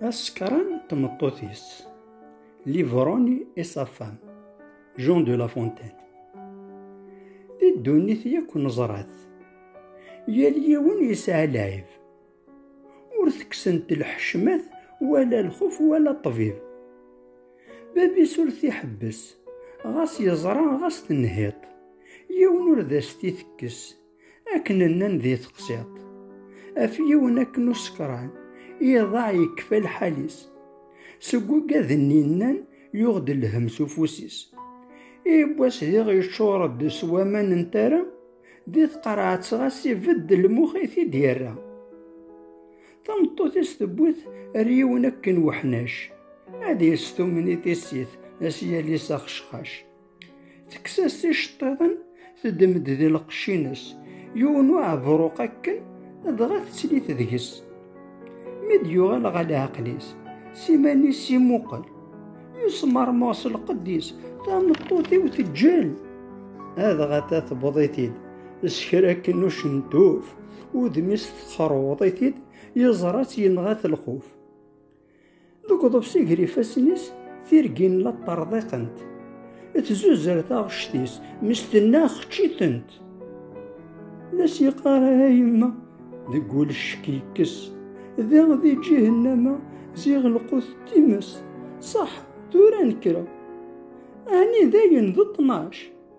Asekran d tmeṭṭut-is, Livroni et sa femme, Jean de la Fontaine. Di ddunit yakk neẓra-t, yal yiwen yesɛa lɛib. Ur tekksent lḥecmat wala lxuf wala ṭṭbib. Bab-is ur t-iḥebbes, ɣas yeẓra ɣas tenhiṭ, yiwen ur d as-t-itekkes. Akken nnan di teqsiḍt, af yiwen akken usekran, iḍaɛ yekfa lḥal-is. Seg wagad-nni nnan yuɣ-d lhem s ufus-is. Iwwas diɣ yeččur-d s waman n tara, di tqerɛet ɣas ibedd lmux i t-id-yerra. Tameṭṭut-is tewwi-t ar yiwen akken weḥnac, ad yestumen i tissit, ad s-yali s axecxac. Tekkes-as iceṭṭiḍen, teddem-d di lqecc-ines, yiwen uɛebruq akken, dɣa tettli-t deg-s. Mi d-yuɣal ɣer leɛqel-is, s iman-is imuqel, yesmermeɣ s lqedd-is, tameṭṭut-iw teǧǧel. Adɣa ta tewweḍ-it-id, s kra akken ucentuf, udem-is texreweḍ-it-id, yeẓra-tt yenɣa-t lxuf. Deg uḍebsi ger ifassen-is, tirgin la ṭṭerḍiqent. Tzuzer taɣect-is, mesten-a xeččitent. La s-yeqqar ara yemma, deg wul ccek yekkes. Da di ǧihennama, ziɣ lqut times. Ṣaḥ, tura nekra. Ɛni dayen d ṭnac?